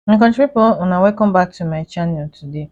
my country pipo una welcome back to my channel today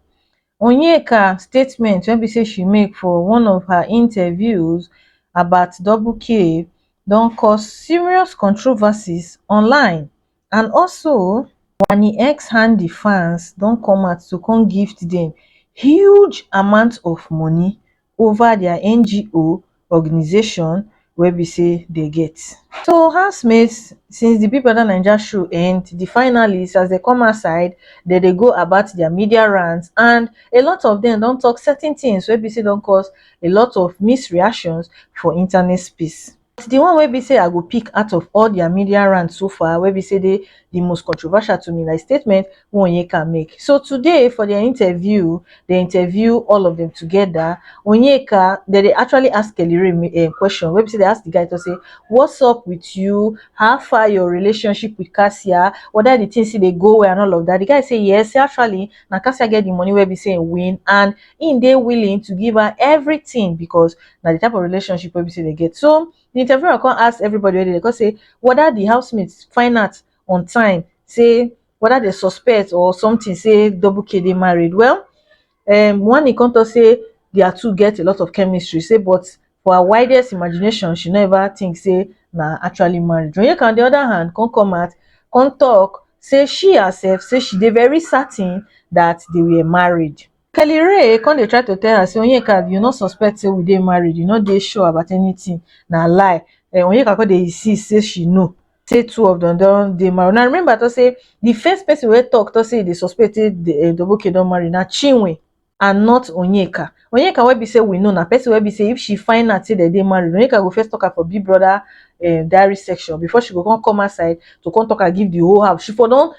onyeka statement wey be say she make for one of her interviews about double k don cause serious controversies online and also wani x handy fans don come out to come gift dem huge amount of moni ova dia ngo organisation wey be say dey get so housemates since di big brother naija show end di finalist as dem come outside dem dey go about dia media rounds and a lot of dem don tok certain tins wey be say don cause a lot of mixed reactions for internet space. But the one wey be say I go pick out of all their media rant so far wey be say dey the most controversial to me na the statement wey Onyeka make. So today for their interview, dem interview all of them together, Onyeka, dem dey actually ask Kelly Ray um question wey be say dem ask the guy talk say what's up with you, how far your relationship with Cassia, whether the thing still dey go well and all of that, the guy say yes, say actually na Cassia get the money wey be say e win and im dey willing to give her everything because na the type of relationship wey be say they get so the interviewer come ask everybody wey dey there come say whether the housemates find out on time say whether they suspect or something say double k dey married well um one e come talk say their two get a lot of chemistry say but for her widest imagination she no ever think say na actually marriage onyeka on the other hand come come out come talk say she herself say she dey very certain that they were married Kelly Rae come dey try to tell her say Onyeka you no suspect say we dey married you no dey sure about anything na lie eh, Onyeka come dey insist say she know say two of them don dey married na remember to say the first person wey talk to say e dey suspect say eh, Doboke don marry na Chinwe and not Onyeka Onyeka wey be say we know na person wey be say if she find out say dem dey married Onyeka go first talk am for Big Brother eh, diary section before she go come come outside to come talk am give the whole house she for don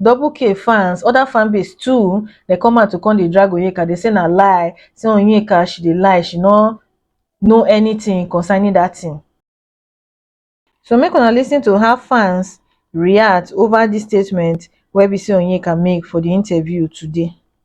double k fans oda fan base too dey come out to come dey drag onyeka dey say na lie say onyeka she dey lie she no know anytin concerning dat tin so make una listen to how fans react ova dis statement wey be say onyeka make for di interview today.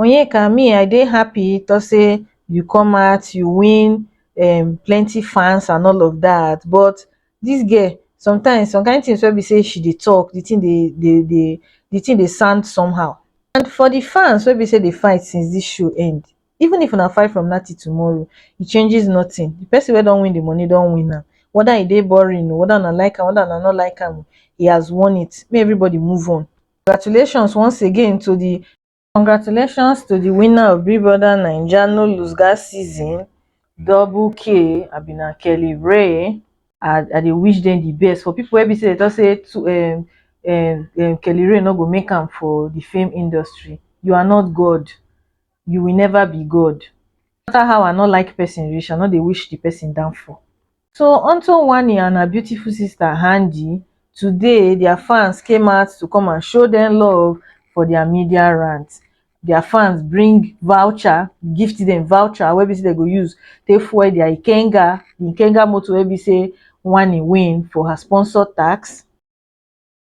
onyeka me i dey happy to say you come out you win um plenty fans and all of dat but dis girl sometimes some kyn things wey be say she dey talk the thing dey dey dey the thing dey sound somehow and for the fans wey be say dey fight since dis show end even if una fight from now till tomorrow e changes nothing the person wey don win the money don win am whether e dey boring oo whether una like am whether una no like am he has won it make everybody move on congratulations once again to the Congratulations to the winner of Big Brother Naija No Lose Gas season double K abi na Kelly Ray. I, I dey wish them the best for people wey be say they talk say to, um, um, um, Kelly Ray no go make am for the film industry. You are not God. You will never be God. No matter how I no like person reach, I no dey wish the person downfall. So onto Wanni and her beautiful sister Hanji, today their fans came out to come and show them love for their media rant. Their fans bring voucher, gift them voucher wey be say they go use take fuel their Ikenga, the Ikenga motor wey be say Wanni win for her sponsor tax.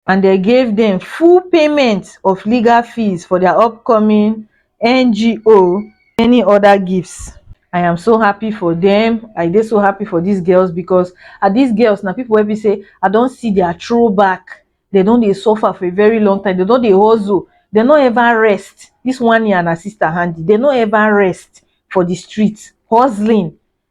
and dem give dem full payment of legal fees for dia upcoming ngo many oda gifts i am so happy for dem i dey so happy for dis girls becos ah dis girls na pipo wey be say i don see dia throw back dem don dey suffer for a very long time dem don dey hustle dem no ever rest dis one year and her sister handi dem no ever rest for di street hustling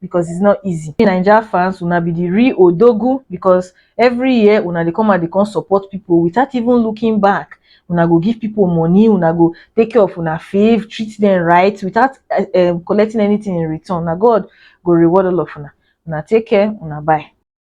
because it's not easy. Naija fans, una be the real Odogu because every year una dey come and dey come support people without even looking back. Una go give people money, una go take care of una fave, treat them right without um, collecting anything in return. Na God go reward all of una. Una take care, una bye.